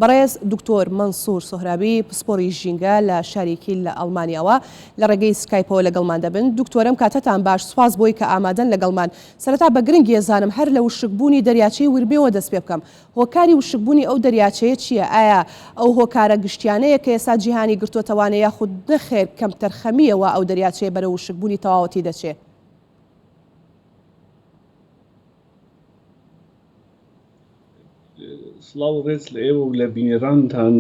بەڕێز دکتۆر مەنسور سۆهرابی پسپۆڕی ژینگە لە شاری کیل لە ئەڵمانیاوە لە ڕێگەی سکایپەوە لەگەڵمان دەبن. دکتۆرم کاتتان باش سوپاس بۆی کە ئامادەن لەگەڵمان. سەرەتا بە گرنگی ئەزانم هەر لە وشکبوونی دەریاچەی ورمێوە دەست پێ بکەم. هۆکاری وشکبوونی ئەو دەریاچەیە چییە؟ ئایا ئەو هۆکارە گشتیانەیە کە ئێستا جیهانی گرتۆتەوانە یاخود نەخێر کەمتەرخەمییە وا ئەو دەریاچەیە بەرەو وشکبوونی تەواوەتی دەچێ؟ سڵاو و ڕێز لە ئێوە و لە بینەرانتان.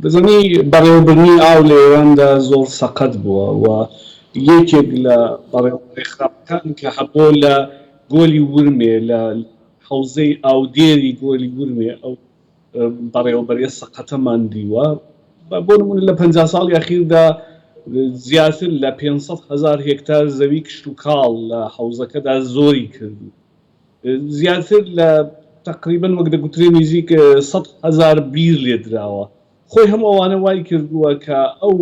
دەزانی بەڕێوەبردنی ئاو لە ئێراندا زۆر سەقەت بووە و یەکێک لە بەڕێوەبەرە خراپەکان کە هەبووە لە گۆلی ورمێ، لە حەوزەی ئاودێری گۆلی ورمێ، ئەو بەڕێوەبەرێ سەقەتەمان دیوە بۆ نمونە لە پەنجا ساڵی ئەخیردا زیاتر لە پێنج سەد هەزار هێکتار زەوی کشت و کاڵ لە حەوزەکەدا زۆری کردوو زیاتر لە تقریبن وەک دەگوترێ نزیک سەد هەزار بیر لێدراوە خۆی هەم ئەوانە وای کردووە کە ئەو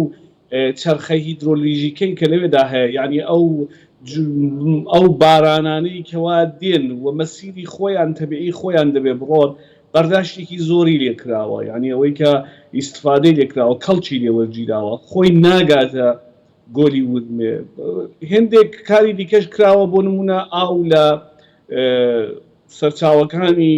چەرخە هیدرۆلیژیکەی کە لەوێدا هەیە، یانی ئەو ئەو بارانانەی کەوا دێن و مەسیری خۆیان تەبیعی خۆیان دەبێ بڕۆن، بەرداشتێکی زۆری لێ کراوە، یانی ئەوەی کە ئیستفادەی لێ کراوە، کەڵکی لێ وەرگیراوە، خۆی ناگاتە گۆلی ورمێ. هێندێک کاری دیکەش کراوە، بۆ نموونە ئاو لە سەرچاوەکانی.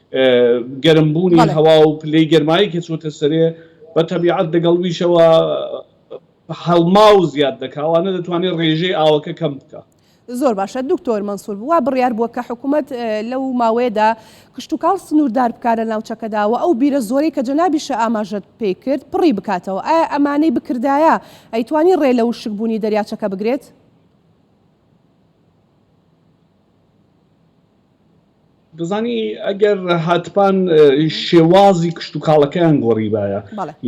گەرم بوونی هەوا و پلەی گەرمایی کە چۆتە سەرێ بە تەبیعەت دەگەڵ ویشەوە هەڵما و زیاد دەکا وانە دەتوانێت ڕێژەی ئاوەکە کەم بکە. زۆر باشە دکتۆر مەنسور وا بڕیار بووە کە حکوومەت لەو ماوەیەدا کشتتوکاڵ سنووردار بکارە ناوچەکەدا و ئەو بیرە زۆری کە جەنابیشە ئاماژەت پێی کرد پڕی بکاتەوە ئایا ئەمانەی بکردایە ئەیتوانی ڕێ لە وشکبوونی دەریاچەکە بگرێت؟ دەزانی ئەگەر هاتپان شێوازی کشت و کاڵەکەیان گۆڕیبایە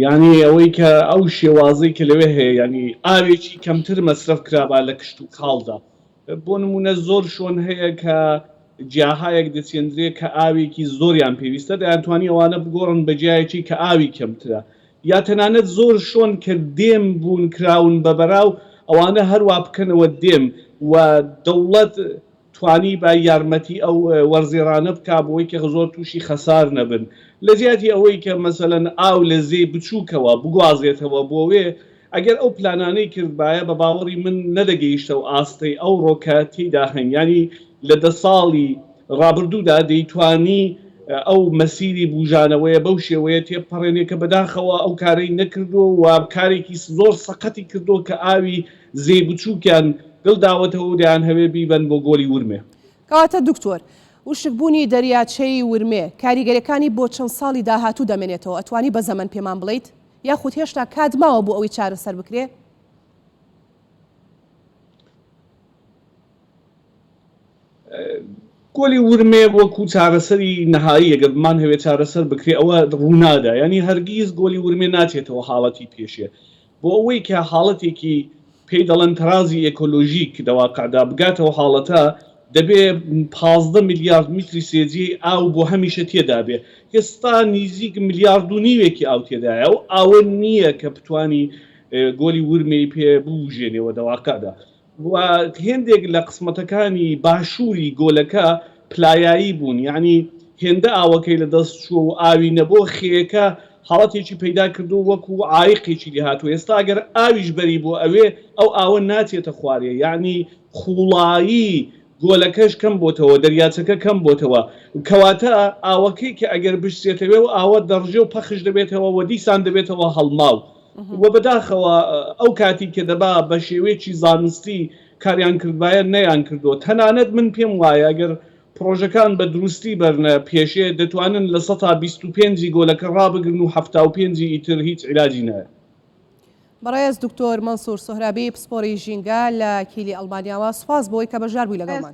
یعنی ئەوەی کە ئەو شێوازی کە لەوێ هەیە ینی ئاوێکی کەمتر مەسرف کرابا لە کشت و کاڵدا بۆ نمونە زۆر شۆن هەیە کە جیاهایەک دەچێندرێت کە ئاوێکی زۆریان پێویستە دەیانتوانی ئەوانە بگۆڕن بە جیایەکی کە ئاوی کەمترە یا تەنانەت زۆر شۆن کە دێم بوون کراون بە بەراو ئەوانە هەر وا بکەنەوە دێم و دەوڵەت توانیبا یارمەتی ئەو وەرزێڕانە بکا بۆی کە زۆر تووشی خەسار نەبن لە جیاتی ئەوەی کە مەسەلەن ئاو لە زێی بچووکەوە بگوازێتەوە بۆ وێ ئەگەر ئەو پلانانەی کردبایە بە باوەڕی من نەدەگەیشتە ئاستەی ئەوڕۆ کە تێیدا هەین یانی لە دە ساڵی ڕابردوودا دەیتوانی ئەو مەسیری بووژانەوەیە بەو شێوەیە تێبپەڕێنێ کە بەداخەوە ئەو کارەی نەکردووە و کارێکی زۆر سەقەتی کردووە کە ئاوی زێی بچووکیان گل داوەتەوە و دەیانهەوێ بیبەن بۆ گۆلی ورمێ. کەواتە دکتۆر، وشکبوونی دەریاچەی ورمێ، کاریگەریەکانی بۆ چەند ساڵی داهاتوو دەمێنێتەوە، ئەتوانی بە زەمەن پێمان بڵێیت؟ یاخود هێشتا کات ماوە بۆ ئەوەی چارەسەر بکرێ؟ پۆلی ورمێ وەکو چارەسەری نەهایی ئەگەر بمانهەوێت چارەسەر بکرێت ئەوە ڕوونادا یعنی هەرگیز گۆلی ورمێ ناچێتەوە حاڵەتی پێشێ بۆ ئەوەی کە حاڵەتێکی پێی دەڵێن تەرازی ئێکۆلۆژیک دەواقعدا بگاتەوە حاڵەتە دەبێ پازدە میلیارد میتری سێجی ئاو بۆ هەمیشە تێدابێ ئێستا نیزیک میلیارد و نیوێکی ئاو تێدایە و ئاوە نییە کە بتانی گۆلی ورمێی پێ بوژێنەوە دەواقعدا و هێندێک لە قسمەتەکانی باشووری گۆلەکە پلایایی بوون یانی هێندە ئاوەکەی لە دەست چووە و ئاوی نەبۆ خێیەکە حاڵەتێکی پەیدا کردووە وەکو عایقێکی لێ هاتووە ئێستا گەر ئاویش بەری بۆ ئەوێ ئەو ئاوە ناچێتە خوارێ یانی قووڵایی گۆلەکەش کەم بۆتەوە دەریاچەکە کەم بۆتەوە کەواتە ئاوەکەی کە ئەگەر بشچێتەوێ و ئاوە دەڕژێ و پەخش دەبێتەوە و دیسان دەبێتەوە هەڵماو و بەداخەوە ئەو کاتی کە دەبا بە شێوەیەکی زانستی کاریان کردبایە نەیان کردووە تەنانەت من پێم وایە گەر پڕۆژەکان بە دروستی بەرنە پێشێ دەتوانن لە سەتا بیست و پێنج ی گۆلەکە ڕابگرن و حەفتا و پێنج ی ئیتر هیچ عیلاجی نایە. بەڕێز دکتۆر مەنسور سۆهرابی پسپۆڕی ژینگە لە کیلی ئەڵمانیاوە، سوپاس بۆی کە بەشدار بووی لەگەڵمان.